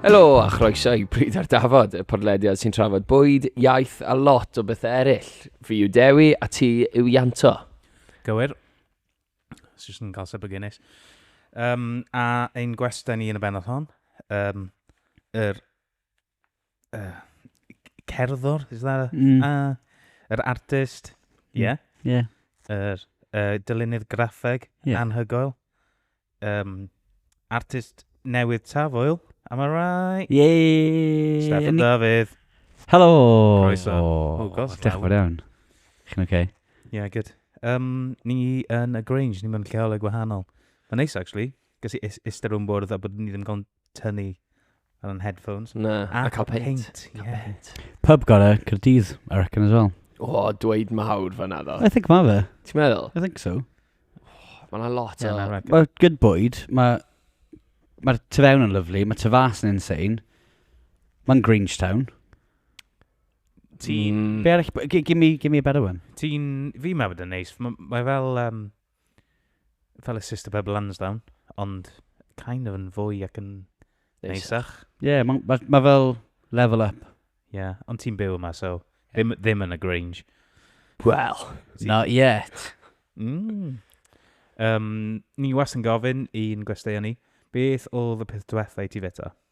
Helo a chroeso i Bryd ar Dafod, y podlediad sy'n trafod bwyd, iaith a lot o bethau eraill. Fi yw Dewi a ti yw Ianto. Gywir. It's just yn cael sip o Guinness. Um, a ein gwestiwn ni yn y benod hon, um, yr uh, cerddwr, is that a... Mm. Uh, yr artist, ie. Yeah. Mm. Yeah. Yr uh, dylunydd graffeg, yeah. anhygoel. Um, artist newydd tafwyl, am I right? Yay! Steffan Dafydd. Helo! Croeso. Oh, gosh, Diolch fawr iawn. Chi'n oce? Okay? Yeah, good. Um, ni yn y Grange, ni mewn lleolau gwahanol. Mae'n neis, actually. Gys i eistedd rhwng bwrdd a bod ni ddim cael tynnu ar yn headphones. Na, a, a cael peint. Yeah. Pub gore, Cyrdydd, I reckon as well. O, oh, dweud mawr fanna ddo. I think ma fe. Ti'n meddwl? I think so. Oh, Mae'n lot yeah, o... Mae good bwyd, mae... Mae'r tu fewn yn lyflu, mae tu fas yn insane. Mae'n Grangetown. Ti'n... Mm. Be arall? Give me, give me a better one. Ti'n... Fi mae bod yn neis. Mae fel... Um, fel y Sister Pebble Lansdowne, ond kind of yn fwy ac yn neisach. Ie, yeah, mae ma, ma fel level up. Ie, yeah, ond ti'n byw yma, so ddim, ddim yn y Grange. Well, not yet. Mm. Um, ni was yn gofyn i'n gwesteion ni, beth oedd y peth diwetha i ti feta?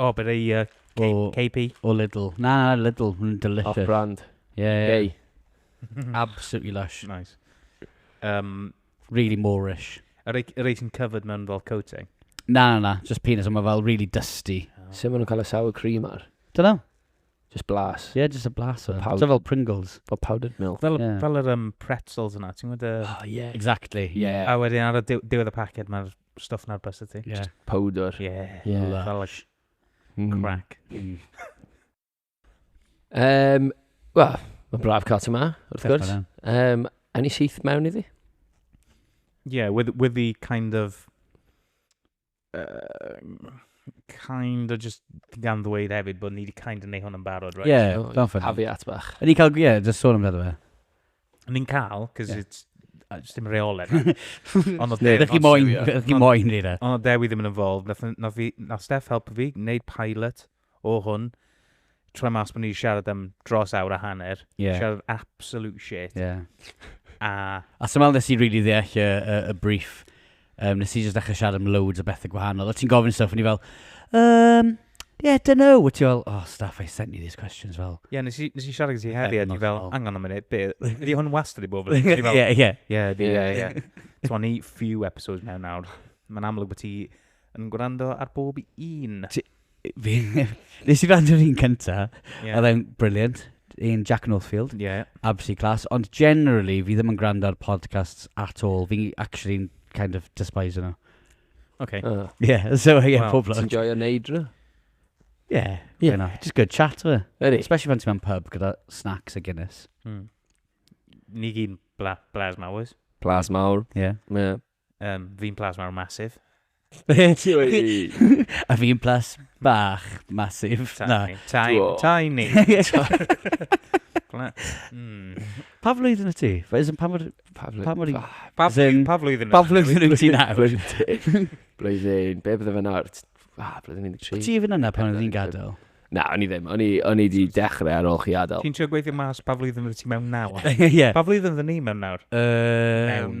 O, bydd ei uh, K- O. KP. O Lidl. Na, na, Lidl. Mae'n Off delicious. brand. Ie, ie. Gay. Absolutely lush. Nice. Um, Really Moorish. y rei, y rei sy'n covered mewn fel coating. Na, na, na. Just penis, ond mae fel really dusty. Sut maen nhw'n cael y sour cream ar? Don't know. Just blas. Yeah, just a blast. Pawb. Pawb. So fel Pringles. Fel powdered milk. Fel, Ie. yeah. fel yr um, pretzels yna, ti'n gwybod y... Oh, yeah. Exactly. Yeah. A wedyn ar y diw- diwedd y paced mae'r stuff na'r bus ti. Yeah. Powdor. Yeah. yeah. Lush. Mm. Crack. Mm. um, Wel, mae braf cael ti ma, wrth gwrs. Um, any syth mewn iddi? Yeah, with, with the kind of... Uh, kind of just gan ddweud hefyd bod ni wedi kind of neu hwn yn barod, right? Yeah, oh, don't forget. Caveat bach. Ydy cael, yeah, just sôn amdano fe. Ni'n cael, cos yeah. it's... Uh, just dim reolen. Ond o Dewi... Ydych chi moyn, ydych chi moyn, Rira. Ond o Dewi ddim yn involved. Nath Steph helpu fi, wneud pilot o hwn trwy mas bod ni siarad am dros awr a hanner. Yeah. Siarad absolute shit. Yeah. a... A sy'n meddwl nes i really ddeall y, y, y brief Um, nes i jyst ddechrau siarad am loads o bethau gwahanol. O ti'n gofyn stuff, o'n i fel, um, yeah, don't know. O ti fel, oh, staff, I sent you these questions, fel. Ie, yeah, nes i, nes i siarad gyda ti heddi, a ti fel, angen am munud, be, ydi hwn wastad i bob yn? Ie, ie. Ie, ie, ie. Ti'n ni few episodes mewn nawr. Mae'n amlwg bod ti yn gwrando ar bob un. Fi... Nes i wrando ar un cynta. Ie. Oedd e'n brilliant. Un Jack Northfield. Ie. Absolutely class. Ond generally, fi ddim yn gwrando ar podcasts at all. Fi actually'n kind of despise nhw. Oce. Ah. Ie, so ie, Wel, pob lwc. Ti'n joio neud nhw? Ie, Ie. yeah. Just good chat, fe. Ydy. Especially pan ti'n mewn pub gyda snacks a Guinness. Hmm. Ni gyd bla, blas mawr. Plas mawr. Ie. Yeah. Ie. Um, fi'n plas mawr masif. Be ti wedi? A fi'n plas bach masif. Na. Tiny. Tiny. Hmm. Pa flwyddyn y ti? Is pa mor... Pa flwyddyn? Pa flwyddyn? Pa flwyddyn y ti nawr? Blwyddyn, be bydde fe nawr? Ah, blwyddyn 13. Ti even yna pan oedd hi'n gadael? Na, o'n i ddim. O'n i, o'n i di dechrau ar ôl chi adael. Ti'n trio gweithio mas pa flwyddyn oedd ti mewn nawr? Ie. Pa flwyddyn oedd ni mewn nawr? Um, mewn.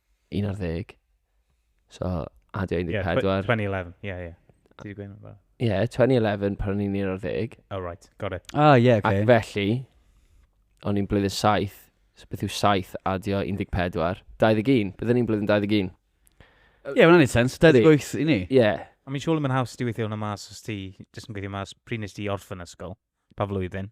Un ar ddeg. So, adio 14. Yeah, 2011, ie, ie. Ti wedi gweud hwnna? Ie, 2011 pan o'n i'n un ar ddeg. Oh, right, got it. Ah, ie, yeah, okay. Ac felly, o'n i'n blwyddyn 7, so beth yw 7 adio 14? 21, byddwn ni'n blwyddyn 21. Ie, yeah, mae'n ei sens, 28 i ni. Ie. Yeah. A mi'n siŵr yn haws ti weithio hwnna mas os ti jyst yn gweithio mas pryd nes ti orffen ysgol, pa flwyddyn?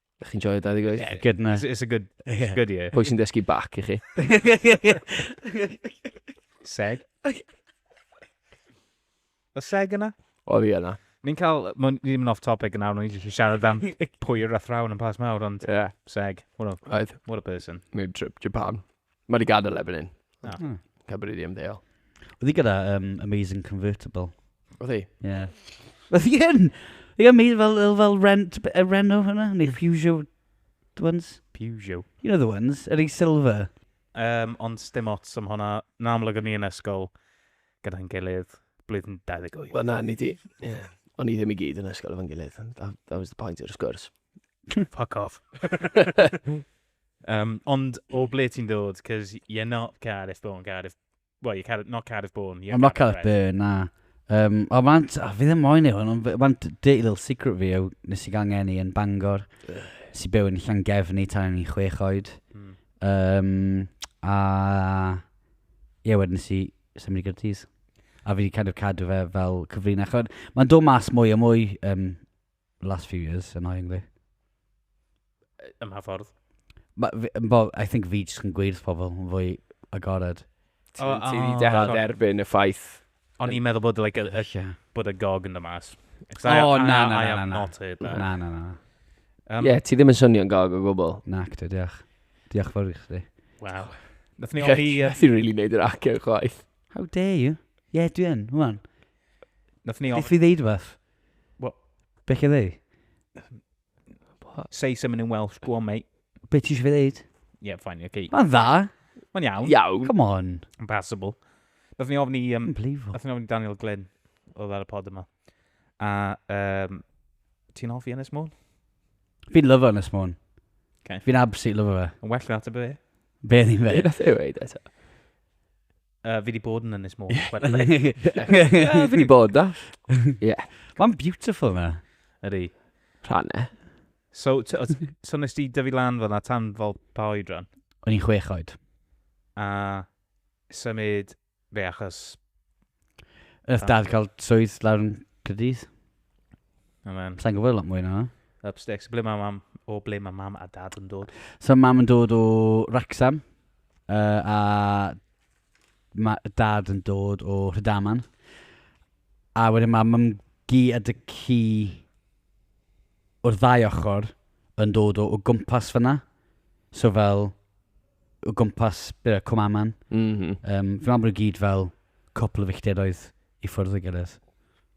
Ydych chi'n joio 28? Yeah, good na. It's, it's a good, it's good year. Pwy sy'n dysgu bac i chi? seg. O seg yna? O fi yna. Ni'n cael, mae'n ddim yn off topic yna, ond ni'n eisiau siarad am pwy yw'r athrawn yn pas mawr, ond yeah. seg. What a, Oedd. what a person. Mae'n trip Japan. Mae wedi gadael erbyn hyn. Na. Hmm. Cymru di ymddeol. Oedd hi gyda um, Amazing Convertible. Oedd hi? Ie. Yeah. Oedd hi yn? Ie, mi fel, fel rent, uh, Reno hwnna, neu Fusio ones. Peugeot. You know the ones, yr ei silver. Um, ond dim ots am hwnna. Yn amlwg o'n i yn ysgol gyda'n gilydd blwyddyn 28. Wel na, ni di. Yeah. O'n i ddim i gyd yn ysgol efo'n gilydd. That, that was the point o'r sgwrs. Fuck off. Um, ond o ble ti'n dod? Because you're not Cardiff born, Cardiff... Well, you're Cardiff, not Cardiff born. You're I'm not Cardiff born, na. Um, o, man, o, fi ddim moyn ei hwn, ond man, dirty little secret fi yw, nes i gangen i yn Bangor. Nes i byw yn Llangefni tan yn i chwech oed. Mm. Um, a... Ie, yeah, wedyn nes i symud i Gyrdydd. A fi wedi kind of cadw fe fel cyfrinach. Mae'n dod mas mwy a mwy um, last few years, annoyingly. Ym mha ffordd? Ma- fi- yn bo- I think fi jyst yn gweud wrth pobl yn fwy agored. Ti O, ti wedi o, dechrau God. derbyn y ffaith. O'n i'n meddwl bod, like, y, y, Ie. bod y gog yn dy mas. 'Cause I- O, I- na, na, I na, have na, na. not heard that. Na, na, na. Um, Ie, ti ddim yn swnio'n gog o gwbl. Nac, dwi, diolch. Diolch fawr i chdi. Wow. Nath ni ofni... yy, Ti'n rili neud yr acen chwaith. How dare you? Ie, yeah, dwi yn, hwan. Nath ni Beth ofni... fi ddeud fath? What? Be chi'n ddeud? Say something in Welsh, go on mate. Be ti eisiau fi ddeud? Yeah, fine, oce. Okay. Mae'n dda. Mae'n iawn. Iawn. Come on. Yn passable. Nath ni ofni... Um, Unbelievable. Nath ni ofni Daniel Glyn oedd ar y pod yma. A um, ti'n hoffi Ynys Môn? Fi'n lyfo Ynys Môn. Okay. Fi'n absolutely lyfo fe. Yn well na ateb e. Be ni'n fe? Be nath e weid eto? Uh, fi di bod yn Ynys Môn. Fi wedi bod da. Ie. Mae'n beautiful na. Ydy. Rhanne. So, t- o- so nes ti dyfu lan fel na tan fel pa oed rhan? O'n i'n chwech oed. A symud fe achos... Ydych dad cael swydd lawr yn Cyrdydd? Amen. Sa'n gwybod lot mwy na. Up sticks. Ble mae mam, o ble mae mam a dad yn dod? So mam yn dod o Wrexham, uh, a mae dad yn dod o Rhydaman. A wedyn mae mam gi a dy ci o'r ddau ochr yn dod o, o gwmpas fyna. So fel, o gwmpas byr Cwmaman. Mm -hmm. um, fi'n meddwl bod nhw gyd fel cwpl o fichteroedd i ffwrdd y gilydd.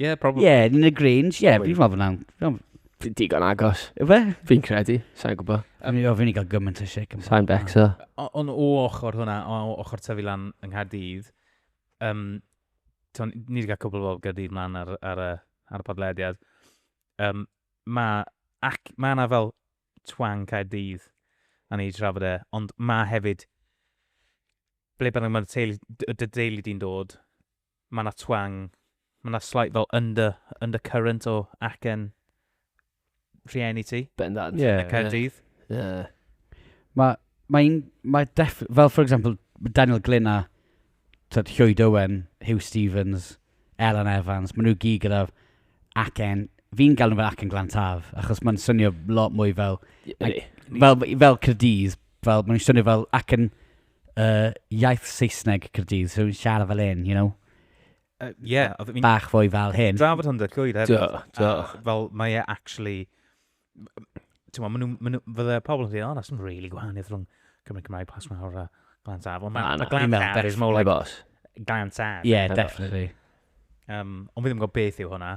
Ie, probably. Ie, yn y Grange, ie, fi'n meddwl fyna'n... Fi'n digon agos. Efe? Fi'n credu, sa'n gwybod. A mi ofyn i gael gymaint o sic. Sa'n becso. Ond o ochr hwnna, o ochr tyfu lan yng Nghaerdydd, um, ni wedi cael cwbl o Gaerdydd mlaen ar, ar, y, ar y podlediad. Um, mae ac, ma yna fel twang Caerdydd a ni wedi trafod e, ond mae hefyd ble bynnag mae'r teulu, y deulu di'n dod, Mae yna twang, mae yna slight fel under, undercurrent o acen rhieni ti. Bendant. Ie. Yn Caerdydd. Ie. Mae, mae un, mae def, fel for example, Daniel Glyn a tyd, Llwyd Owen, Hugh Stevens, Ellen Evans, maen nhw gyd gyda acen, fi'n gael nhw fel acen glan taf, achos mae'n swnio lot mwy fel, fel, fel Cyrdydd, fel, maen nhw'n swnio fel acen uh, iaith Saesneg Cyrdydd, so rwy'n siarad fel hyn, you know? Uh, yeah, oedd fi'n... Bach fwy fel hyn. Drafod hwn dweud llwyd hefyd. Do, do. Fel, mae e actually... Ti'n ma, nhw, fydde pobl yn dweud, oh, that's not really gwahaniaeth rhwng Cymru Cymraeg pas mawr a Glan Taf. Ond mae Glan Taf is more like... Glan Taf. Yeah, definitely. Um, ond fi ddim yn gwybod beth yw hwnna.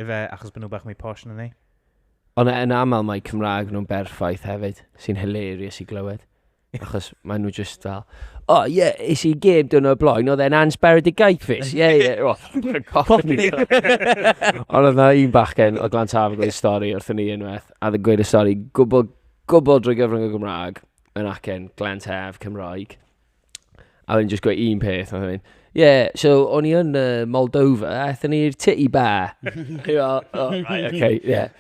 Ife achos bod nhw bach mwy posh na ni? Ond yn aml mae Cymraeg nhw'n berffaith hefyd, sy'n hilarious i glywed. Achos maen nhw just fel, oh yeah, is i gêm dyn nhw y blaen, oedd e'n ansbaredigaethus, yeah, yeah, oh, Ond oedd na un bachgen o Glan Taf yn gweud stori wrth ni unwaith, a ddyn gweud y stori gwbl, gwbl drwy gyfrwng y Gymraeg, yn acen Glan Taf, Cymraeg. A wedyn just gweud un peth, a wedyn, yeah, so o'n i yn uh, Moldova, a aethon ni'r titty bar. Ie, oh, right, okay, yeah.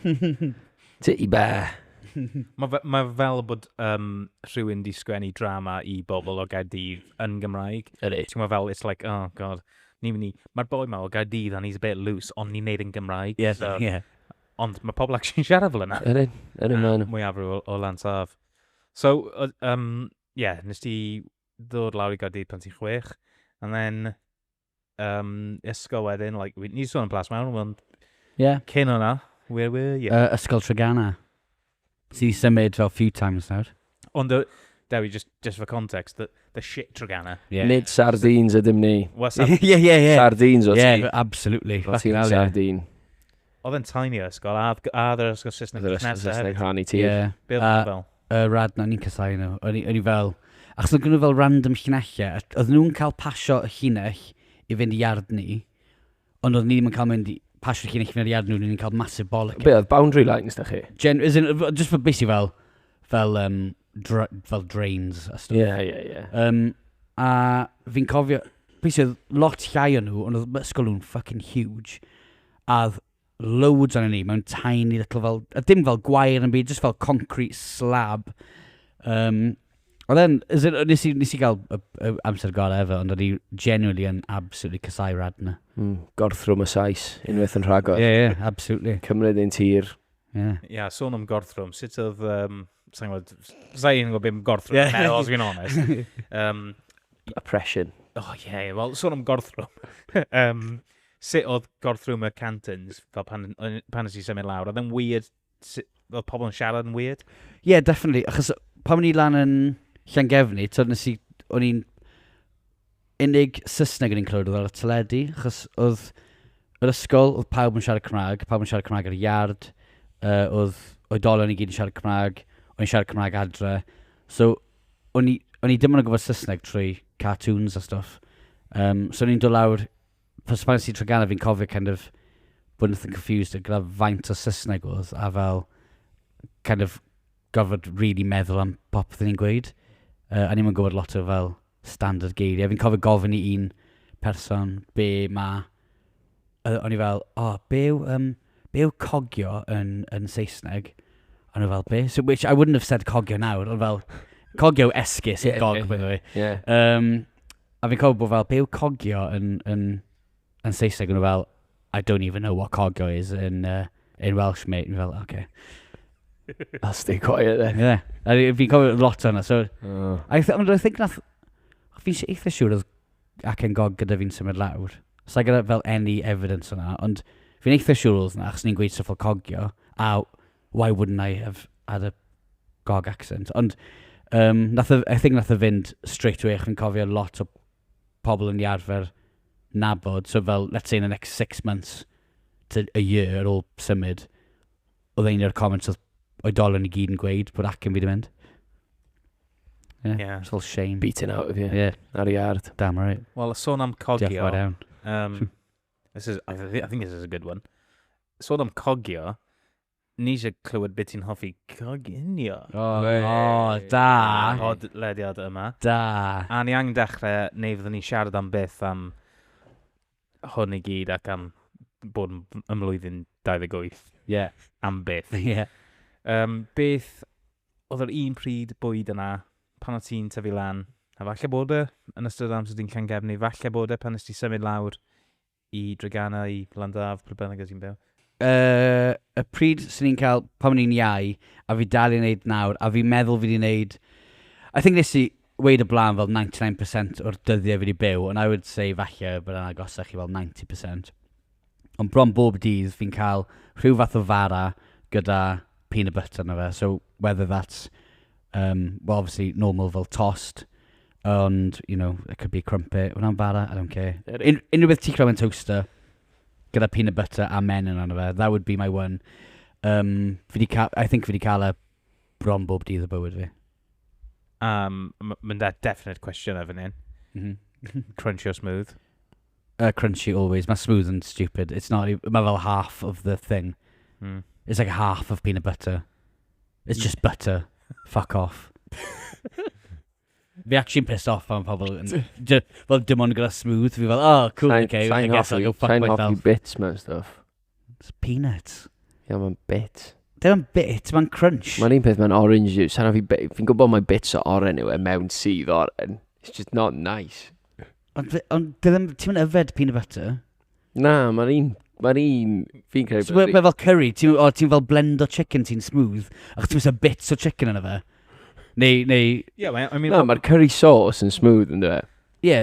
Titty bar. Mae fe, ma fel bod um, rhywun di sgwennu drama i bobl o Gaerdydd yn Gymraeg. Ydy. Ti'n gwybod fel, it's like, oh god, ni'n mynd i... Mae'r boi ma o Gaerdydd and he's a bit loose, ond ni'n neud yn Gymraeg. Ie, so, ie. Ond mae pobl actually'n siarad fel yna. Ydy, ydy, mae'n... Mwyafrif o, o Lansaf. So, um, Ie, nes ti ddod lawr i Gaerdydd pan ti'n chwech, and then um, ysgol wedyn, like, ni wedi sôn am Plas Mewn, ond yeah. cyn hwnna, where were you? Uh, ysgol Trigana. Ti wedi symud fel few times nawr. Ond, uh, Dewi, just, just for context, the, the shit Trigana. Yeah. Nid sardines ydym ni. Ie, ie, ie. Sardines o ti. Yeah, absolutely. O ti'n sardine. Oedd yn tiny o ysgol, a oedd a oedd yr ysgol Saesneg Oedd yr ysgol Saesneg rhan i ti? Ie. Be oedd nhw fel? Y rad na, ni'n casau nhw. O'n i fel... Achos oedd gen nhw fel random llinellau. Oedden nhw'n cael pasio y llinell i fynd i iard ni, ond oedden ni ddim yn cael mynd i pasio'r llinell i fynd i iard nhw, oedden ni'n cael massive bollock. Be oedd boundary lines da chi? Gen, as in, just for basically fel, fel, um, dra, fel drains a stuff. Ie, yeah, ie, yeah, ie. Yeah. Um, a fi'n cofio, basically, lot llai o nhw, ond oedd ysgol nhw'n fucking huge. A oedd loads ohonon ni mewn tiny little fel... a dim fel gwair na'm byd, jyst fel concrete slab. Yym, oedd e'n... as in, wnes i wnes i gael y y amser gorau ever, ond o'n i genuinely yn absolutely casau Radna. Mm, gorthrwm y Sais, unwaith yn rhagor. Ie, ie, absolutely. Cymryd ein tir. Ie. Ie, sôn am gorthrwm, sut oedd... Um, Sa'n gwybod... Sa i'n gwybod beth mae gorthrwm yn Ie. meddwl, os fi'n honest. Um, Oppression. O, ie, ie, wel, sôn am gorthrwm. um, sut oedd gorthrwm y cantons, fel pan, pan nes i symud lawr, oedd yn weird, oedd pobl yn siarad yn weird? Ie, yeah, definitely, achos pan o'n i lan yn Llangefni, tyd nes i, o'n i'n unig Saesneg yn i'n clywed oedd ar y teledu, achos oedd yr ysgol, oedd pawb yn siarad Cymraeg, pawb yn siarad Cymraeg ar y iard, uh, oedd oedolion i gyd yn siarad Cymraeg, o'n i'n siarad Cymraeg adre, so o'n i, o'n i ddim yn gwybod Saesneg trwy cartoons a stuff. Um, so o'n i'n dod lawr Fy smaen si tro ganol fi'n cofio kind of bod yn confused gyda faint o Saesneg oedd a fel kind of gorfod really meddwl am popeth o'n i'n gweud. Uh, a ni'n gwybod lot o fel standard geiriau. Fi'n cofio gofyn i un person be mae... Uh, o'n i fel, o, oh, be yw, um, be yw cogio yn, yn Saesneg? O'n i fel, be? So, which I wouldn't have said cogio nawr, ond fel, cogio esgus i gog, by the way. Yeah. Um, A fi'n cofio bod fel, be yw cogio yn, yn, yn Saesneg? O'n nhw fel, I don't even know what cogio is in, uh, in Welsh, mate. O'n nhw fel, okay. I'll stay quiet then. Yeah. A fi- fi'n cofio lot o'na, so... Oh. I, th I think nath... Fi'n si- eitha siŵr oedd ac yn gog gyda fi'n symud lawr. Sa'i gyda fel any evidence o'na, ond fi'n eitha siŵr oedd na, achos ni'n gweud syffol cogio, a why wouldn't I have had a gog accent? Ond, um, nath o, I think nath o fynd straight away, chi'n cofio lot o pobl yn iarfer nabod, so fel, let's say in the next six months to a year ar ôl symud, oedd ein o'r comments oedd oedolyn i gyd yn gweud bod ac yn fi di mynd. Yeah, yeah. It's all shame. Beating out of you. Yeah. Ar iard. Damn right. Wel, y sôn am cogio. Diolch um, This is, I, thi- I think this is a good one. Sôn am cogio, ni eisiau clywed beth ti'n hoffi coginio. O, Wei. o, da. Ar y Podlediad yma. Da. A ni angen dechrau, neu fyddwn ni'n siarad am beth am hwn i gyd ac am bod yn ym mlwyddyn 28. Ie. Am beth. Ie. Um, beth oedd yr un pryd bwyd yna pan o't ti'n tyfu lan, a falle bod e yn ystod amser di'n Llangefni, falle bod e pan nes ti symud lawr i Dregana, i Landaf, pryd bynnag o ti'n byw. Uh, y pryd sy'n ni'n cael pan o'n i'n iau, a fi dal i'n neud nawr, a fi'n meddwl fi wedi neud... I think nes i weid y blaen fel 99% o'r dyddiau fi wedi byw, and I would say falle bod yna agosach i fel 90%. Ond bron bob dydd fi'n cael rhyw fath o fara gyda peanut butter na fe. So whether that's, um, well obviously normal fel tost, ond, you know, it could be crumpet. Wna'n fara, I don't care. Un, unrhyw beth ti creu yn toaster, gyda peanut butter a men yn anna fe, that would be my one. Um, fi di cael, I think fi di cael e bron bob dydd o bywyd fi. Um, mynd â definite cwestiynau fan hyn. Mm -hmm. Crunchy o smooth? Uh, crunchy always. Mae smooth and stupid. It's not, e, mae fel half of the thing. Mm. It's like half of peanut butter. It's mm. just butter. Fuck off. Fi actually'n pissed off am pobl yn... Fel dim ond gyda smooth, fi fel, oh, cool, okay, I guess I'll go fuck myself. Sa'n hoffi bits mewn stuff. It's peanuts. Ia, mae'n bit. Dim yn bit, mae'n crunch. Mae'n un peth mae'n orange juice. Sarah, fi, be- fi'n gwybod mae bits o oren yw e mewn sydd oren. It's just not nice. Ond fe- ond dy ddim, ti'n mynd yfed peanut butter. Na, mae'r un... Mae'r un... Fi'n credu... So, Mae mae fel curry, ti'n o, ti'n fel blend o chicken ti'n smooth, ac ti'n mynd bits o chicken yna fe. Neu, neu, Yeah, mae, I mean, Na, mae'r curry sauce yn smooth yn dweud. ie.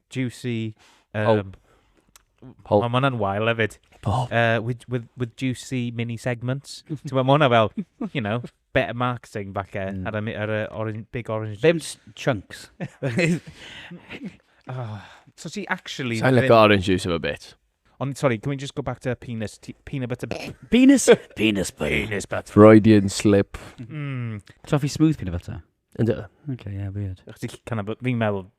juicy... Um, Pulp. Pulp. Mae hwnna'n wael hefyd. Pulp. Uh, with, with, with juicy mini segments. Ti'n gwybod, mae hwnna fel, you know, better marketing falle mm. ar, y, ar y orange, big orange... Ddim chunks. oh. So ti actually... Sa'n like orange juice of a bit. Ond, sorry, can we just go back to penis, peanut butter... penis, penis butter. Penis butter. Freudian slip. Mm. Toffee smooth peanut butter. Ynddo. Okay, yeah, weird. Chdi canna, fi'n meddwl,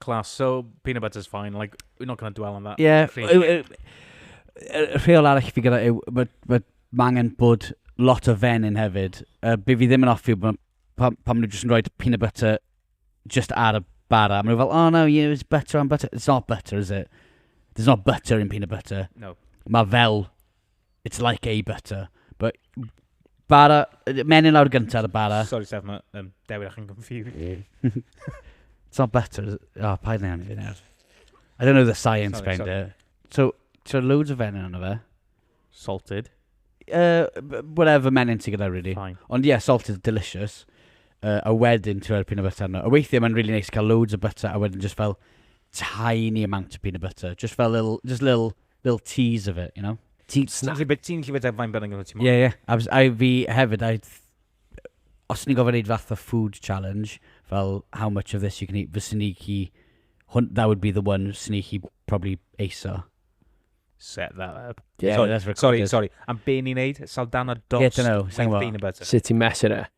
Class. So, peanut butter's fine. Like, we're not going to dwell on that. Yeah. Y rheol arall fi gyda yw, mae ma, ma angen bod lot o fen yn hefyd. Uh, be fi ddim yn offi, pan, pan maen nhw jyst yn rhoi peanut butter just ar y bara. Maen nhw fel, oh no, yeah, it's butter on butter. It's not butter, is it? There's not butter in peanut butter. No. Mae fel It's like a butter. But bara, menyn lawr gyntaf ar y bara. Sorry, Sef, mae um, Dewi ac yn confused. It's not butter. is it? Oh, paid neud fi nawr. I don't know the science Sorry, behind sorry. it. So, so loads of fenyn yna fe. Salted. Uh, b- whatever menyn ti gyda, really. Fine. Ond ie, yeah, salt is delicious. Uh, a wedyn, ti'n rhoi'r peanut butter arno. A weithiau mae'n really nice cael loads o butter a wedyn just fel tiny amount of peanut butter. Just fel little, just little Little tease of it, you know? Ti'n Snack. gallu byta- ti'n gallu byta faint bynnag o ti moyn. Ie, ie. A fys- I fi hefyd, I... Os ni'n gofyn wneud fath o food challenge, fel how much of this you can eat, fyswn ni chi... Hwn, that would be the one fyswn ni chi probably eiso. Set that up. Yeah, sorry, that's sorry, recorded. sorry. Am be ni'n neud? Saldana dos. Yeah, dunno, sai'n gwbod. Peanut butter. Sut ti'n mesur e?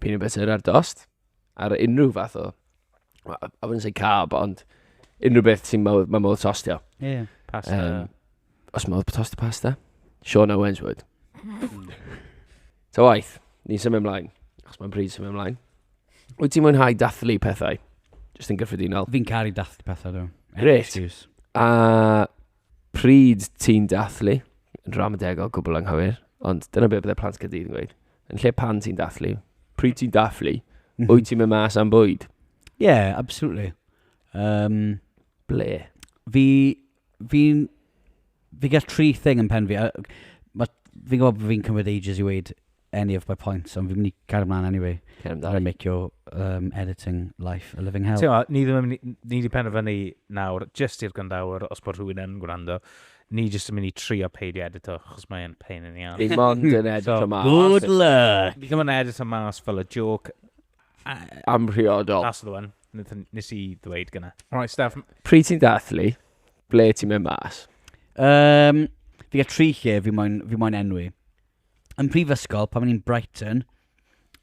peanut butter ar dost, ar unrhyw fath o, I wouldn't say carb, ond unrhyw beth sy'n ma, ma modd tostio. Ie. Yeah. Pasta. Um, os modd tostio pasta, Sean Owens would. Hmm. Ta waith, ni'n symud ymlaen, achos mae'n bryd symud ymlaen. Wyt ti'n mwynhau dathlu pethau? Just yn gyffredinol. Fi'n caru dathlu pethau, dwi. Great. A Pryd ti'n dathlu, yn ramadegol, gwbl anghywir, ond dyna beth byddai plant Caerdydd yn gweud. Yn lle pan ti'n dathlu, pryd ti'n dathlu, mm -hmm. wyt ti'n mynd mas am bwyd? Ie, yeah, absolutely. Um, Ble? Fi, fi, fi gael tri thing yn pen fi. Fi'n gwybod bod fi'n cymryd ages i weid any of my points, ond fi'n mynd i cario mlaen anyway. Cario mlaen. I make your um, editing life a living hell. Tewa, ni ddim yn mynd i, ni wedi penderfynu nawr, just i'r gwrandawr, os bod rhywun yn gwrando, ni jyst yn mynd i trio peidio edito, chos mae'n pain yn iawn. Ni mond yn edito so, mas. Good luck! Ni ddim yn edito mas fel y joke. Amhriodol. That's the one. Nes i ddweud gyna. Right, Steph. Pryd ti'n dathlu, ble ti'n mynd mas? Um, fi gael tri lle fi moyn, fi moyn enwi. yn prifysgol, pan o'n i'n Brighton,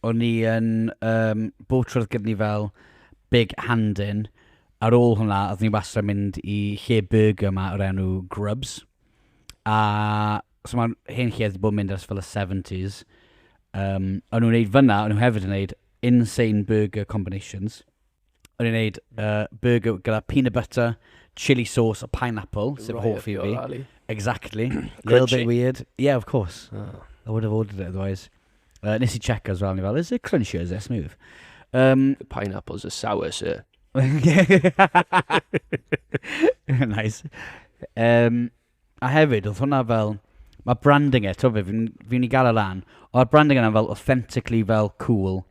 o'n i yn um, bob trwy'r gyfni fel Big Handin. Ar ôl hwnna, oedd ni wastad mynd i lle burger yma o'r enw Grubs. A so mae'r hen lle wedi bod yn mynd ers fel y 70s. Um, o'n nhw'n gwneud fyna, o'n nhw hefyd yn gwneud insane burger combinations. o'n i'n neud uh, burger gyda peanut butter, chili sauce a pineapple, sef right hoff i fi. Alley. Exactly. Little bit weird. Yeah, of course. Oh. I would have ordered it otherwise. Uh, nes i check as well, ni fel, is it crunchy or is it smooth? Um, the pineapples are sour, sir. nice. Um, a hefyd, oedd hwnna fel, mae branding e, to fi, fi'n fi gael y lan, o'r branding yna fel authentically fel cool,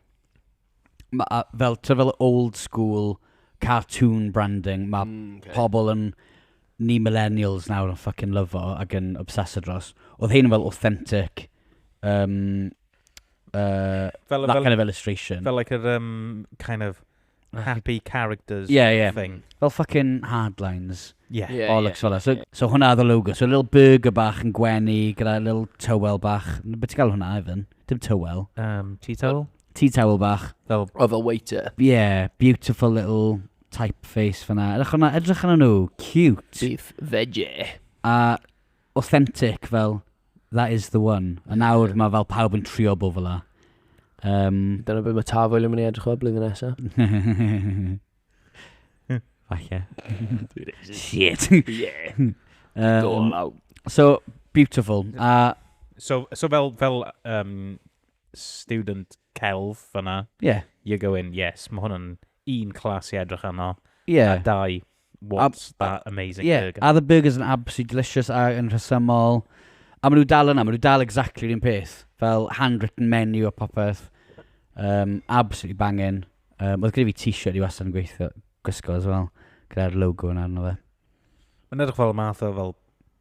ma- a- fel, ti'n gwbod, fel old school cartoon branding, ma' Mm, okay. pobl yn... Ni millennials nawr yn fucking lyfo ac yn obsessed dros. Oedd hyn yn fel authentic, um, uh, Fel, that fel, kind of illustration. fel like yr um, kind of happy characters Yeah, yeah. thing. Fel fucking hardlines. Yeah. Ie, Bollocks fel 'na. So, so hwnna oedd y logo. So little burger bach yn gwenu gyda little towel bach. N- Be ti'n cael hwnna, Ivan? Dim towel. Um, tea towel? Tea towel bach. Fel... Of a waiter. Yeah, beautiful little typeface fyna. Edrych arno, edrych arno nhw. Cute. Beef veggie. A authentic fel, that is the one. A nawr mae fel pawb yn trio bo fel la. Um, Dyna beth mae Tafwyl yn mynd i edrych o blwyddyn nesaf. Falle. Shit. Yeah. Um, Dol out. So, beautiful. A... So, so fel, fel um, student celf fanna. Ie. Yeah. You're going, yes, mae hwn yn un clas i edrych arno. Ie. Yeah. A dau, what's a, that amazing yeah. burger? Are the burgers yn absolutely delicious a yn rhesymol? A maen nhw dal yna, maen nhw dal exactly un peth. Fel handwritten menu a popeth. Um, absolutely banging. Um, oedd gyda fi t-shirt i wastad yn gweithio, gwisgo as well, gyda'r logo yna arno fe. Mae'n edrych fel y math o fel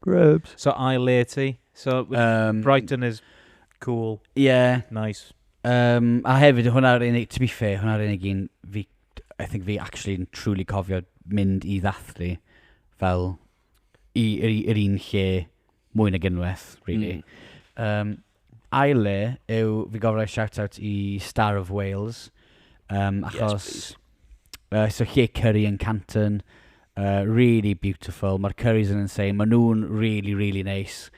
Grubs. So ail le ti. So um, Brighton is cool. Yeah. Nice. Um, a hefyd, hwnna'r unig, to be fair, hwnna'r unig un fi, I think fi actually yn truly cofio mynd i ddathlu fel i, i, i'r un lle mwy nag unwaith, really. Mm. Um, ail le yw, fi'n gofyn rhoi shout-out i Star of Wales, um, achos... Yes, uh, so lle Curry yn Canton, uh, really beautiful, mae'r Currys yn insane, maen nhw'n really, really nice.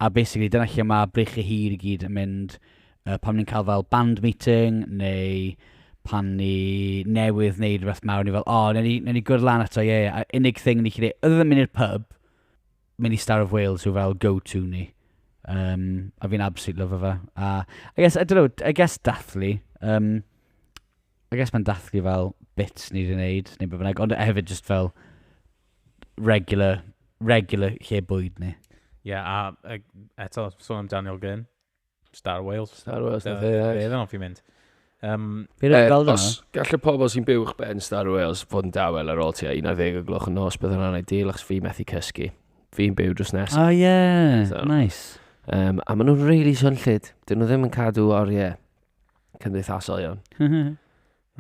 A basically, dyna lle mae brich y hir i gyd yn mynd, uh, pan ni'n cael fel band meeting, neu pan ni newydd wneud rhywbeth mawr, ni fel, o, oh, ni, ni gwrdd lan ato, ie, yeah, yeah. unig thing ni chi dweud, oedd yn mynd i'r pub, mynd i Star of Wales yw fel go-to ni. Um, a fi'n absolute love fe. A, I guess, I don't know, I guess dathlu. Um, I guess mae'n dathlu fel bits ni wedi wneud, neu beth bynnag, ond hefyd just fel regular, regular lle bwyd ni. Ie, yeah, a eto, sôn am Daniel Gyn. Star Wales. Star Wales, na fe. Fe fe fi'n mynd. Um, Fi'n rhaid fel dyna. Gall y pobl sy'n byw uwch ben Star Wales fod yn dawel ar ôl ti a 11 o gloch yn nos, bydd hwnna'n ideal achos fi methu cysgu. Fi'n byw drws nes. Oh yeah, so, nice. Um, a maen nhw'n really swnllid. Dyn nhw ddim yn cadw oriau cymdeithasol iawn.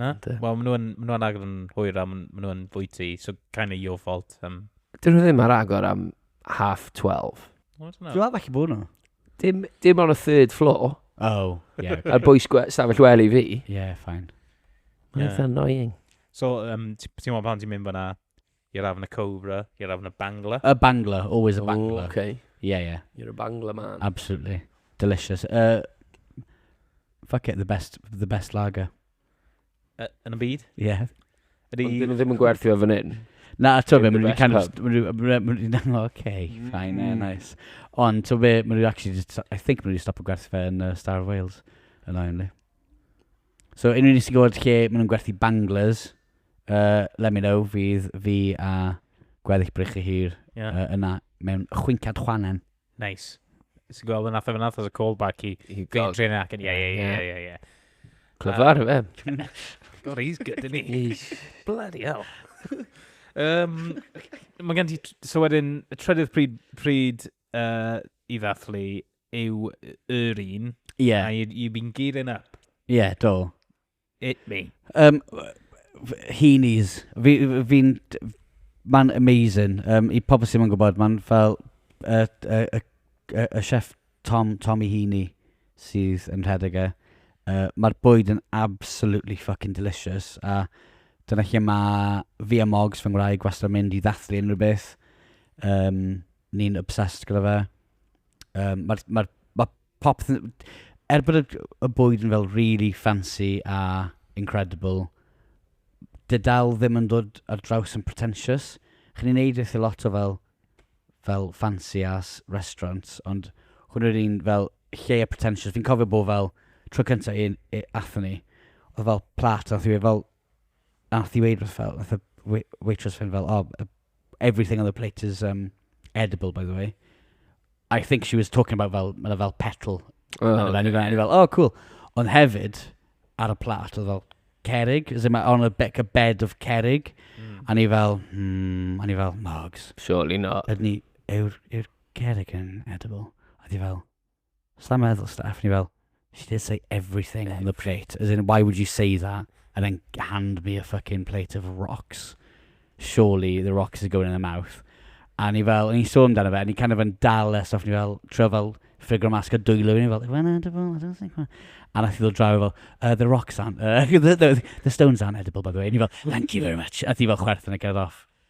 Na? Yndyn. Wel, maen nhw'n ma nhw agor yn hwyr a maen nhw'n fwyty, so kind of your fault. Um, Dyn nhw ddim ar agor am half 12. I don't Dwi'n know. meddwl falle bod nhw. Dim, dim on y third floor. Oh, yeah. A'r bwys gwe- stafell wel i fi. yeah, fine. Mae'n Ie. eitha annoying. So, um, ti- ti'n meddwl pan ti'n mynd fyna, You're having a cobra, you're having a bangla. A bangla, always a bangla. Oh, okay. Yeah, yeah. You're a bangla man. Absolutely. Delicious. Uh, fuck it, the best, the best lager. Uh, yn y byd? Ie. Yeah. Ydy... Ond dyn nhw ddim yn gwerthu o fan hyn. Na, to fe, mae'n kind of... Mae'n okay, mm. fine, yeah, nice. Ond to fe, mae'n actually just... I think mae'n stop o gwerthu fe yn uh, Star of Wales. Yn oen li. So, unrhyw un sy'n gwybod lle maen nhw'n gwerthu banglers, uh, let me know, fydd fi a gweddill brych y hir yeah. uh, yna mewn chwincad chwanen. Nice. Sy'n gweld yn atho fyna, as a callback i Green Train ac yn, ie, ie, ie, ie, ie. Clyfar, fe. God, he's good, isn't he? Bloody hell. um, mae gen ti, so wedyn, y trydydd pryd, pryd uh, i ddathlu yw yr un. Ie. Yeah. A you've been gearing up. Ie, yeah, do. It me. Um, Heenies. Fi'n... Fi, fi Mae'n amazing. Um, I pobl sy'n mynd gwybod, mae'n fel y, y, y, y, y chef Tom, Tommy Heaney sydd yn rhedeg e. Uh, Mae'r bwyd yn absolutely fucking delicious. A dyna lle mae fi a Mogs fy ngwraig wastad yn mynd i ddathlu unrhyw beth. Um, Ni'n obsessed gyda fe. Yym, mae'r, mae'r, mae popeth yn... Er bod y g- y bwyd yn fel rili ffansi a incredible, 'di e dal ddim yn dod ar draws yn pretentious. Chi'n ei wneud weithiau lot o fel fel fancy ass restaurants, ond hwn yw'r un fel lleia pretentious. Fi'n cofio bod fel, tro cynta un i- aethon ni, oedd fel plât a wnaeth hi weud fel... Wnaeth hi weud wrth fel, wnaeth y wei- waitress fynd fel, "oh uh everything on the plate is um edible by the way". I think she was talking about fel, ma' 'na fel petal O ar y menu 'ma. O'n i fel, "oh cool". Ond hefyd, ar y plat oedd fel cerrig, as in ma' on a be- like a bed of cerrig. A o'n i fel, hmm, o'n i fel, Margs... Surely not. ...Ydyn ni, yw'r yw'r cerrig yn edible? Oedd hi fel... Sa meddwl Steph, ni fel, she did say everything on the plate, as in why would you say that and then hand me a fucking plate of rocks? Surely the rocks are going in the mouth. A ni fel, o'n i'n sôn amdano fe, a ni kind of yn dal e, so ni fel, trio fel ffigro mas cael dwylo fi, ni fel, when edible, I don't think when... A nath i ddod draw fel, uh, the rocks aren't, uh, the, the, the stones aren't edible by the way. A ni fel, thank you very much. A ti fel chwerthin a cerdded off.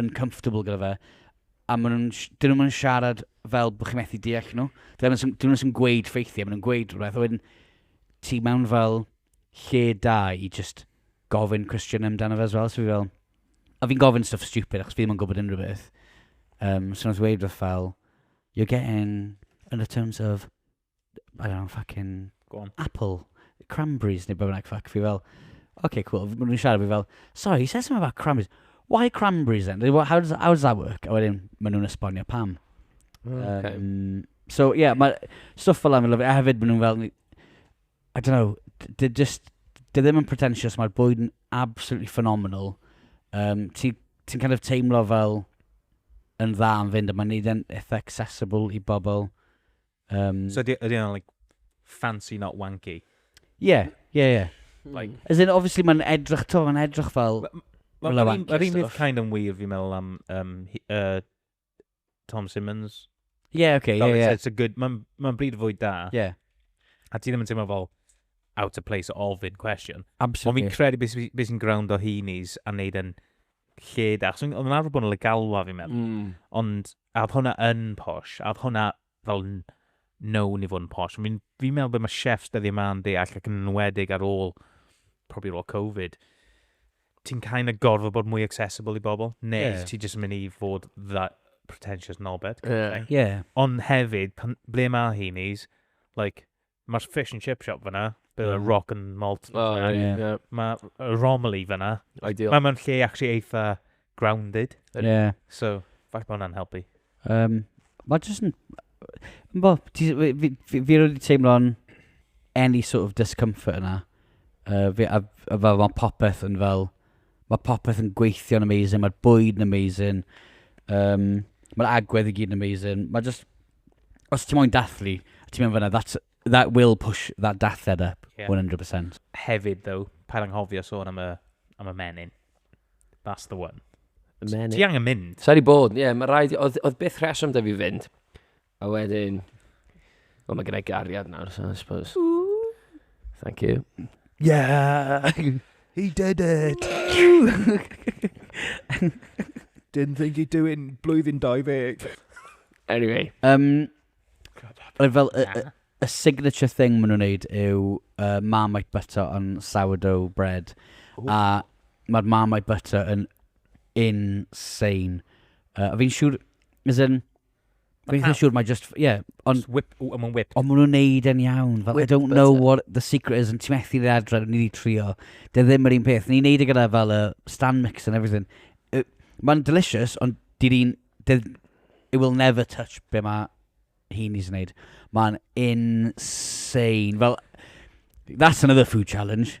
yn comfortable gyda fe, a maen nhw'n... dyn nhw'm yn siarad fel bod chi'n methu deall nhw. Dyn nhw ddim jyst yn gweud ffeithiau, maen nhw'n gweud rhywbeth, a wedyn ti mewn fel lle da i jyst gofyn cwestiwn amdano fe as well, so fi fel... A fi'n gofyn stuff stupid achos fi ddim yn gwybod unrhyw beth. Yym, so wnaeth dweud rhywbeth fel, you're getting undertones of I don't know, fucking... Go on. Apple, cranberries neu beth bynnag, fuck. Fi fel, okay, cool. Maen nhw'n siarad fi fel, sorry, he says something about cranberries. Why cranberries then? How does, how does that work? A wedyn, maen nhw'n esbonio pam. Mm, okay. Um, so, yeah, mae stuff fel am i lyfio. A hefyd, maen nhw'n fel, I don't know, they're just, they're ddim yn pretentious, mae'r bwyd yn absolutely phenomenal. Um, Ti'n ti kind of teimlo fel yn dda yn fynd, a mae'n neud yn eitha accessible i bobl Um, so ydy yna, like, fancy not wanky? Ie, yeah, ie, yeah, ie. Yeah. Like, hmm. As in, obviously, mae'n edrych, to, mae'n edrych fel... Mae'r un peth kind of wir fi'n meddwl am um, he, uh, Tom Simmons. Yeah, okay, yeah, yeah. It's a good, mae'n ma bryd fwy da. Yeah. A ti ddim yn teimlo fel out of place all ofyn question. Absolutely. Ond fi'n credu beth be sy'n ground o hyn is a wneud yn lle da. Chos oedd yn arfer bod yn legalwa fi'n meddwl. Mm. Ond A oedd hwnna yn posh? A oedd hwnna fel n- known i fod yn posh? Fi'n fi meddwl bod mae chefs dyddiau yma yn deall ac yn enwedig ar ôl, probably ar ôl Covid, ti'n kind of gorfod bod mwy accessible i bobl, neu yeah. Ie. ti jyst yn mynd i fod that pretentious knobhead. kind of Ie. thing. Ie. Ond hefyd, pan, ble mae heenies, like, Mae'r fish and chip shop fyna. Bydd y rock and malt. Oh, yeah, yeah. yeah. Mae Romilly fyna. Ideal. Mae mewn lle actually eitha grounded. Yeah. So, falle bod hwnna'n helpu. Um, mae jyst yn... Bo, fi, fi, fi, fi wedi teimlo'n any sort of discomfort yna. Uh, fi, a, a fel mae popeth yn fel, mae popeth yn gweithio'n amazing, mae'r bwyd yn amazing, um, mae'r agwedd i gyd yn amazing. Mae just, os ti moyn dathlu, a ti'n mynd fyna, that's, that will push that dathliad up, Ie. 100%. Hefyd, though, paid anghofio sôn am y, am y menyn. That's the one. Y menyn. Ti angen mynd. Sa'i di bod, ie, yeah, mae rhaid, oedd, oedd byth rheswm da fi fynd. A wedyn, o, mae gennau gariad nawr, so I suppose. Thank you. Yeah! He did it! Didn't think he'd do it in blwyddyn 20. Anyway. Um, Roedd fel y, y, y signature thing maen nhw'n neud yw uh, Marmite butter on sourdough bread. Ooh. A mae'r Marmite butter yn insane. Uh, a fi'n siŵr, as in, Dwi'n eitha siŵr, mae just, ie. Ond... Whip, I'm on whip. Ond maen nhw'n neud e'n iawn. Fel, I don't know what the secret is yn ti'n methu dde adre, ni wedi trio. Dy e ddim yr un peth. Ni'n neud e gyda fel y stand mix and everything. Mae'n delicious, ond di di'n... It will never touch be mae hi'n ni'n neud. Mae'n insane. Fel, that's another food challenge.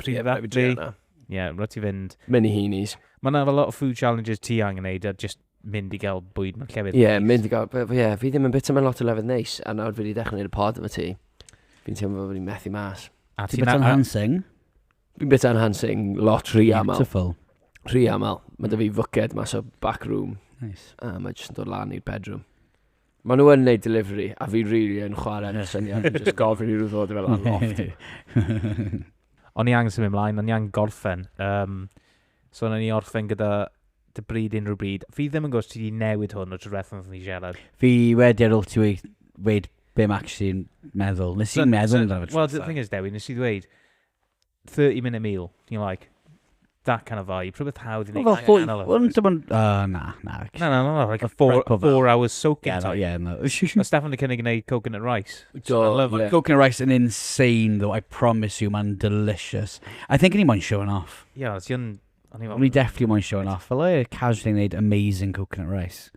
Pryd yeah, rhaid fi yna. Ie, yeah, rhaid ti fynd. Mini heenies. Mae yna lot o food challenges ti angen neud a just mynd i gael bwyd mewn llefydd Ie, yeah, mynd i gael... Ie, yeah, fi ddim yn bita mewn lot o lefydd neis, a nawr fi wedi dechrau gwneud y pod efo ti. Fi'n teimlo bod fi'n methu mas. A ti'n bita enhancing? Fi'n bita enhancing lot rhy aml. Beautiful. Rhy aml. Mae dy fi fwced mas o back room. Nice. A mae jyst yn dod lan i'r bedroom. Mae nhw yn neud delivery, a fi really yn chwarae yn y syniad, yn just gofyn i nhw ddod fel ar loft. O'n i angen symud ymlaen, o'n i angen gorffen. Um, so o'n i orffen gyda dy bryd unrhyw bryd. Fi ddim yn gwrs ti wedi newid hwn o drwy'r ffordd ni siarad. Fi wedi ar ôl ti wedi be mae actually'n meddwl. Nes i'n meddwl amdano fe. Wel, the thing is, Dewi, nes i ddweud, 30 minute meal, you like, that kind of vibe, rhywbeth hawdd i Wel, wneud. fel hwyl. Wel, dim ond... Uh, na, na. Na, na, na, na, like a four, Right, cover. four hours soaking Yeah, no, time. yeah, no. Mae Steffan yn cynnig yn gwneud coconut rice. Do, I love ie. it. Coconut rice yn insane, though, I promise you, mae'n delicious. I think o'n i moyn showing off. Ie, yeah, ti'n... O'n i O'n i definitely moyn showing off. Fel e, casually wneud amazing coconut rice.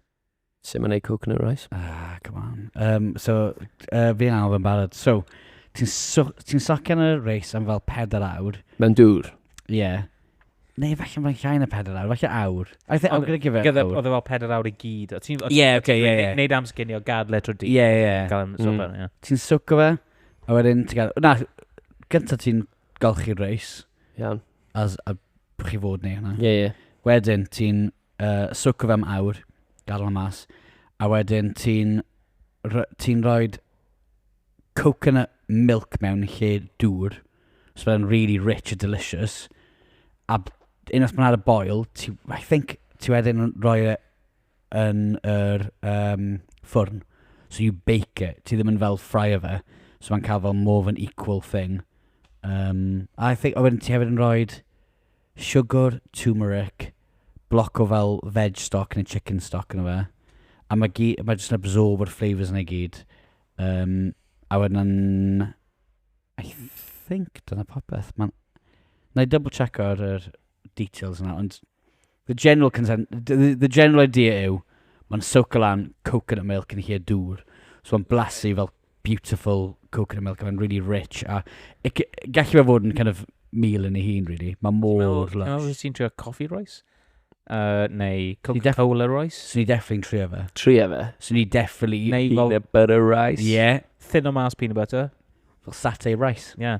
Sut mae'n ei coconut rice? Ah, come on. Um, so, uh, fi'n angen yn barod. So, ti'n so, ti socio yn y reis am fel pedair awr. Mae'n dŵr. Ie. Yeah. Neu falle mae'n llai na pedair awr, falle awr. I think, I'm gonna give it gyda, awr. Oedd e fel pedair awr i gyd. Ie, yeah, okay, ie, yeah, ie. Neud am sginio, gad letro di. Ie, ie. Gael yn sopa, mm. ie. Ti'n socio fe, a wedyn ti'n gael... Na, gyntaf ti'n golchi'r reis. Iawn. As a chi fod neu hwnna. Ie, ie. Wedyn ti'n uh, swco fe am awr, gadael o mas, a wedyn ti'n ti rhoi coconut milk mewn lle dŵr, so fe'n really rich a delicious, a unwaith mae'n ar y boil, ti, I think ti wedyn rhoi e yn yr um, ffwrn. So you bake it. Ti ddim yn fel fry o fe. So mae'n cael fel more of an equal thing. Um, I think, o wedyn ti hefyd yn rhoi siwgr, turmeric, bloc o fel veg stock neu chicken stock yna fe. A mae, gy- mae jyst yn absorb yr flavours yna i gyd. Um, a wedyn, I think dyna popeth. Mae'n... Na i double check ar yr details yna, ond... The general consent, the, the general idea yw, mae'n soaker lan coconut milk yn lle dŵr. So mae'n blasu fel beautiful coconut milk, mae'n really rich. A e, gallu fe fod yn kind of meal yn ei hun, really. Mae mor lush. Ti'n ti'n trio coffee rice? Uh, neu Coca-Cola rice? Swn i definitely yn trio fe. Trio fe? Swn i definitely... Neu peanut butter rice? Yeah. Thin o mas peanut butter? Fel satay rice? Yeah.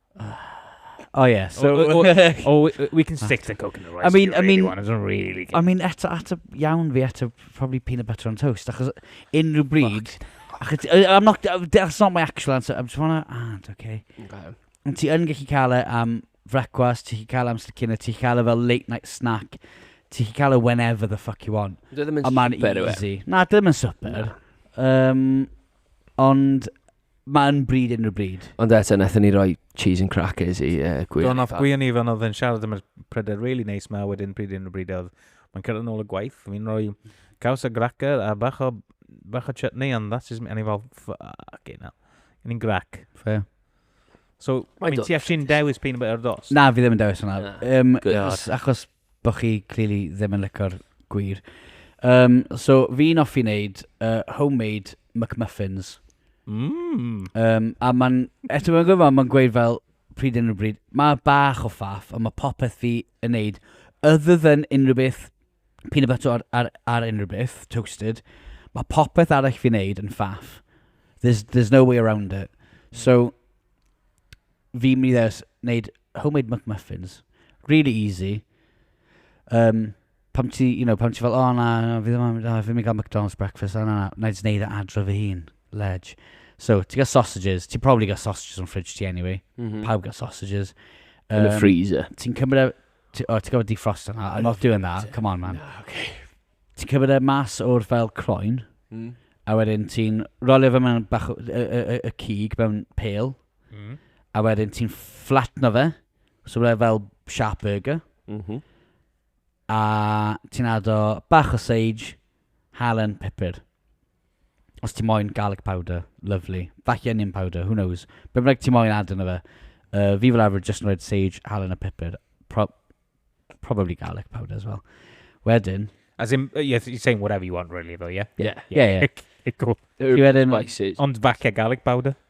Oh yeah, so... Oh, oh, oh, oh we, we can stick to coconut rice I mean, if you I really mean, want, I don't really care. I mean, eto, eto, iawn fi, eto, probably peanut butter on toast, achos unrhyw bryd... Achos, I'm not, that's not my actual answer, I'm just wanna, ah, okay. okay. Ond ti yn gallu cael e am frecwast, ti'n cael e am sticina, ti'n cael e fel late night snack, ti'n cael e whenever the fuck you want. Dwi ddim yn super, yw e? Na, dwi ddim yn super. Um, ond Mae'n bryd unrhyw bryd. Ond eto, wnaethon ni roi cheese and crackers i uh, gwir. Do'n off gwyn i fan oedd yn siarad am y pryder really nice ma wedyn pryd unrhyw bryd oedd. Mae'n cyrraedd yn ôl y gwaith, fi'n rhoi caws a gracker a bach o, bach o chutney and that's just me. A ni fel, fuck it now. Yn i'n grac. Fair. So, Mae'n mynd ti actually'n dewis peanut butter dos? Na, fi ddim yn dewis hwnna. Um, achos, achos Bo chi clearly ddim yn lico'r gwir. Um, so, fi'n offi wneud uh, homemade McMuffins. Mm. Um, a mae'n, eto mae'n gwybod, mae'n gweud fel, pryd yn y bryd, mae bach o ffaff, ond mae popeth fi yn neud, other than unrhyw beth, peanut butter ar, ar, ar unrhyw beth, toasted, mae popeth arall fi'n neud yn ffaff. There's, there's no way around it. So, fi'n mynd i ddewis wneud homemade McMuffins. Really easy. Um, pam ti, you know, pam ti fel, o oh, na, na, fi ddim yn mynd, oh, fi ddim yn cael McDonald's breakfast, na, na, na, na, i wneud e adro fy hun, ledge. So, ti gael sausages, ti probably gael sausages o'n fridge ti anyway. Mm -hmm. Pawb gael sausages. Um, Yn y freezer. Ti'n cymryd e, ti, oh, ti'n gofod defrost yna, I'm not doing that, come on man. No, okay. Ti'n cymryd e mas o'r fel croen, mm. a wedyn ti'n rolio fe mewn bach y, y, y, y cig mewn pale, Mm. A wedyn ti'n flatno fe. So byddai fel sharp burger. Mm -hmm. A ti'n ado bach o sage, halen, pepper. Os ti'n moyn garlic powder, lovely. Falle onion powder, who knows. Be bynnag ti'n moyn ado na fe. Uh, fi fel arfer just yn rhaid sage, halen a pepper. Pro probably garlic powder as well. Wedyn... As in, uh, you're saying whatever you want really though, yeah? Yeah, yeah, yeah. yeah. cool. Ond falle garlic powder.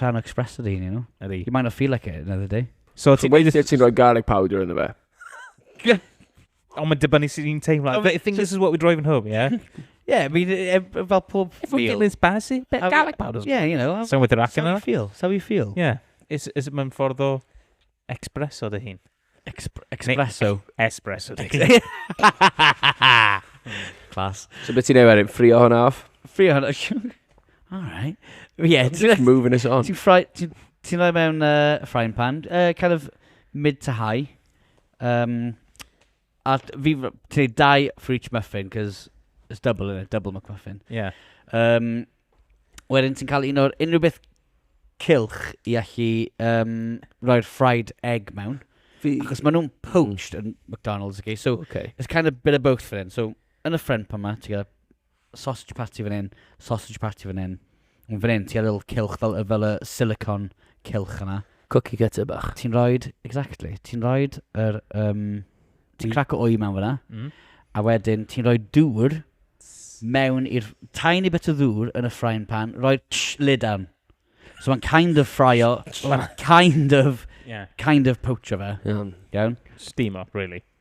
rhan o express ydy hyn, you know? Ydy. You might not feel like it another day. So ti'n... Weithiau ti'n rhoi garlic powder yn y fe. Ond mae'n dibynnu sydd i'n teimlo. I think this is what we're driving home, yeah? yeah, I mean, e, e, fel pob feel. If we're feeling spicy, bit of garlic powder. Yeah, you know. Someone with the rack in it. How you feel, how you feel. Yeah. Is, is mae'n ffordd o express o dy hun. Expr- Expresso. Espresso Dixie. Class. So beth ti'n ei wedyn? Ffrio hwnna off? Ffrio hwnna. Alright. Yeah, ti'n moving us on. Ti'n ffroi... Ti'n ti rhoi mewn uh, frying pan. Uh, kind of mid to high. Um, A fi, ti dau for each muffin, cos it's double, isn't it? Double McMuffin. Ie. Yeah. Um, wedyn ti'n cael un o'r unrhyw beth cilch i allu um, roi'r fried egg mewn. Fi... Achos maen nhw'n poached yn McDonald's, okay? So, okay. it's kind of bit of both for hyn. So, yn y ffrind pan ma, ti'n cael sausage party fan hyn, sausage party fan hyn. Ond fan hyn, ti ar ôl cylch fel, fel y silicon cylch yna. Cookie cutter bach. Ti'n rhoed, exactly, ti'n rhoed yr, um, ti'n crac o wy mewn fyna, mm. a wedyn ti'n rhoi dŵr mewn i'r tiny bit o ddŵr yn y frying pan, rhoi tsh, lid down. So mae'n kind of fryo, mae'n kind of, yeah. kind of poacher fe. Iawn. Iawn? Steam up, really.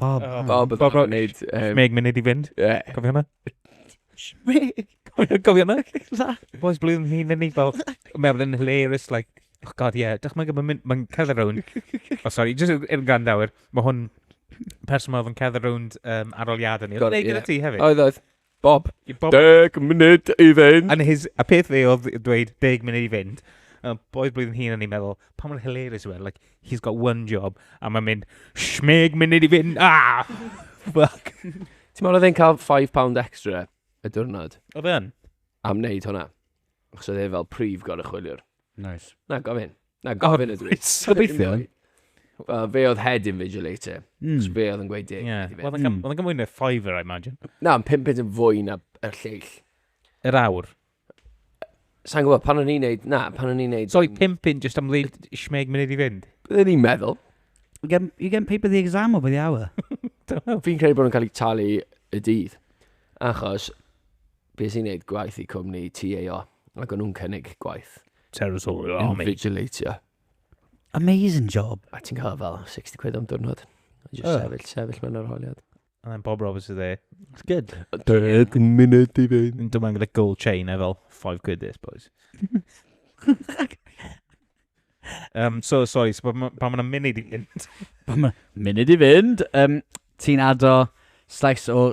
Bob. Oh, Bob oedd Bob yn gwneud... Meg mynd i fynd. Yeah. Cofio hwnna? Meg. Cofio hwnna? Boys blwyddyn hi'n yn ei fel... Mewn yn hilarious, like... Oh god, yeah. Dych mae'n gwybod, mae'n cerdded rownd. Oh, sorry, just yn er grandawyr. Mae hwn person mae'n oedd cerdded rownd um, aroliadau ni. Oedd e gyda ti hefyd? Oedd, oedd. Bob, I bob... deg munud i fynd. And his, a peth fe oedd dweud deg munud i fynd. Uh, boed blwyddyn hun yn ei meddwl, pa mor hilarious yw e, like, he's got one job, a mae'n mynd, shmeg munud i fynd, ah! Fuck. Ti'n meddwl oedd e'n cael £5 extra y diwrnod Oedd e yn? am wneud hwnna? Achos oedd e fel prif goruchwyliwr. Nice. Na gofyn. Na gofyn ydw i. Gobeithio. Wel, fe oedd head invigilator. Mm. Cos fe oedd yn gweud deg. Yeah. Oedd yn mm. gymwyd na Fiverr, I imagine. Na, yn pum pint yn fwy na y lleill. Yr awr. Sa'n gwybod, pan o'n i'n neud, na, pan o'n i'n neud... So i pum pint just am leid shmeg munud i fynd? Byddwn i'n meddwl. You get, you get paper the exam over the hour. Fi'n credu bod nhw'n cael ei talu y dydd. Achos Be sy'n neud gwaith i cwmni TAO? Ac o'n nhw'n cynnig gwaith. Terrace Hall, oh, mate. Invigilatio. Amazing job. A ti'n cael fel 60 quid am diwrnod. Just oh. sefyll, sefyll mewn ar holiad. And then Bob Roberts is there. It's good. Deg munud i fynd. Yn dod gyda gold chain e fel 5 quid this, boys. um, so, sorry, so, pa mae'n ma munud i fynd? pa mae'n munud i fynd? Um, ti'n ado slice o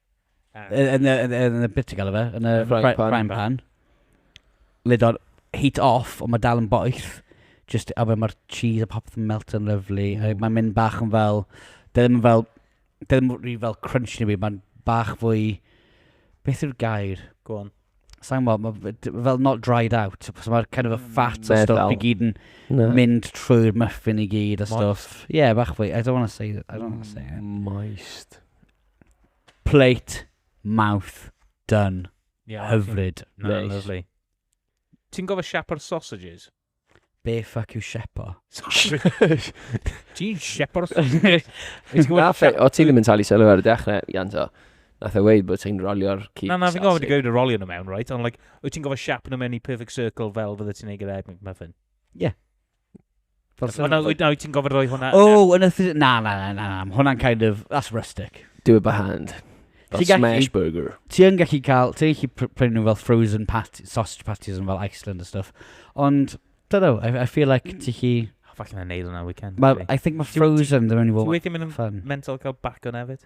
Yn y bit ti'n gael fe? Yn y frying pan. Lid o'r heat off, ond mae dal yn boeth. Just, a fe mae'r cheese a popeth yn melt yn lyflu. Mae'n mynd bach yn fel... Dyn nhw'n fel... Dyn nhw'n rhi fel crunch ni fi. Mae'n bach fwy... Beth yw'r gair? Go on. Sa'n mo, mae fel not dried out. So mae'r kind of a mm, fat a stuff i gyd yn mynd trwy'r muffin i gyd a stuff. Yeah, bach fwy. I don't want to say that. I don't want to say it. Moist. Plate, mouth, done. Yeah, Hyfryd. Na, Reis. lovely. Ti'n gofio siapo'r sausages? Be ffuck yw shepo? Ti'n siapo'r sausages? Ti'n gwybod Nath e, siap- o ti ddim yn talu sylw ar y dechrau, Ianto. Nath e weid bod ti'n rolio'r cig Na, na, fi'n gofio wedi sausage. gweud y rolio nhw mewn, right? Ond, like, wyt ti'n gofio siap nhw mewn i perfect circle fel fydde ti'n ei gyda egg McMuffin? Ie. Fel sy'n... Ond wyt ti'n gofyn roi hwnna... O, yn y... Na, na, na, na, na. Hwnna'n kind of... That's rustic. Do it by hand. Fel smash burger. Ti yn gallu cael... Ti'n gallu prynu nhw fel frozen pat, sausage patties yn fel Iceland a stuff. Ond, da do, I, I feel like ti chi... Falle na neud hwnna weekend. Ma, I think mae frozen ddim yn fwy fun. Ti'n mynd yn mental cael bac o'n efyd?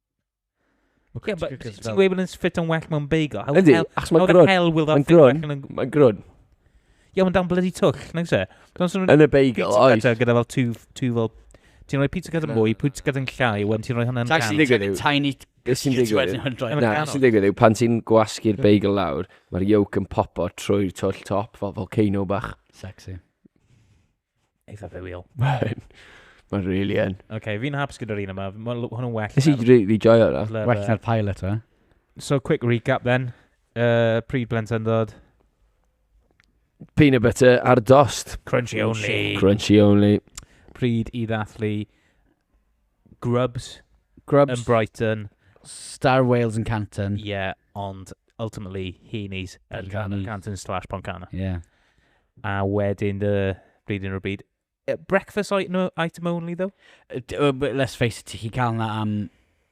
Ie, but ti'n gweud bod yn ffit yn well mewn beigl. How Yndi, achos mae'n grwn. hell will that grwn. Mae'n grwn. Ie, mae'n dan bloody twll, nag se? Yn y beigl, oes. Pizza gyda fel two, two fel... Ti'n rhoi pizza gyda mwy, pizza gyda'n llai, wedyn ti'n rhoi hwnna'n can. Ti'n digwydd yw... Tiny sy'n digwydd yw... Na, sy'n digwydd yw, pan ti'n gwasgu'r beigl lawr, mae'r yolk yn popo trwy'r twll top, fel volcano bach. Sexy. Eitha filial. Mae'n ma really yn. Oce, okay, fi'n haps gyda'r un yma. Mae hwnnw'n well. Nes i really joio yna. Well na'r pilot, e? So, quick recap then. Uh, pryd blentyndod. Peanut butter ar dost. Crunchy only. Crunchy only. Pryd i ddathlu Grubs Grubs. yn Brighton. Star Wales yn Canton. Ie, yeah, ond ultimately Heaney's yn Canton, Canton slash Poncana. Ie. Yeah. A wedyn dy blwyddyn o'r byd. Breakfast item only, though? Let's face it, ti'n cael yna am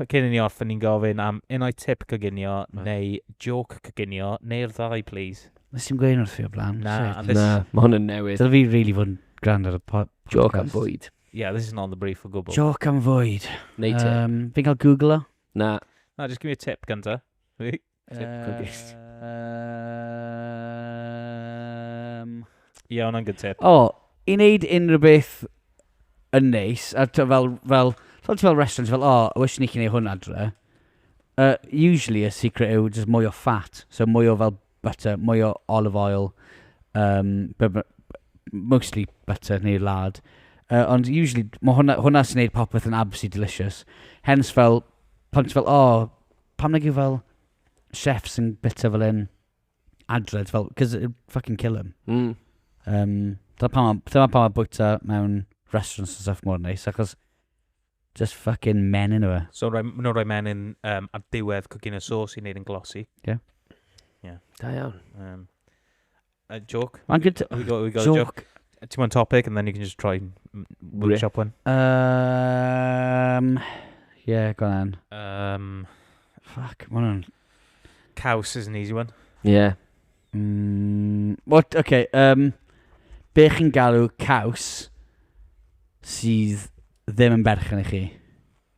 Cyn i ni orffen ni'n gofyn am unai tip coginio neu joke coginio, neu'r ddau please. Nes i'm gweud wrth fi o blaen. Na, this... Na, mae hwn yn newydd. Dyna fi really fod yn grand ar y podcast. Joke am fwyd. Yeah, this is not the brief o gwbl. Joke am fwyd. Neu tip. Um, fi'n cael Google o. Na. Na, just give me a tip gynta. Typical gist. Um, Ie, hwnna'n good tip. O, i wneud unrhyw beth yn neis, a t- fel, fel, fel, ti fel restaurant, fel, o, oh, wish ni chi'n ei hwn adre. Uh, usually y secret yw just mwy o fat, so mwy o fel butter, mwy o olive oil, um, be- be- mostly butter neu lard. Uh, ond usually, mae hwnna, hwnna sy'n gwneud popeth yn absolutely delicious. Hence fel, pan ti fel, o, oh, Pam nag yw fel chefs yn bwyta fel hyn adre, ti fel, cos it'd fucking kill him. Mm. Um, dyna pam, ma- dyna pam mae bwyta mewn restaurants and stuff mor neis, achos just fucking men yn yw So, roi, nhw'n rhoi menyn um, ar diwedd cwgyn y sos i wneud yn glossy. Da iawn. Um, A joke. Mae'n good... We got, we got joke. a joke. Ti'n mwyn topic and then you can just try workshop one. Um, yeah, go on. Um, Fuck, mae hwnna'n... Caws is an easy one. Yeah. Mm, what, okay, um, be chi'n galw caws sydd ddim yn berchen i chi?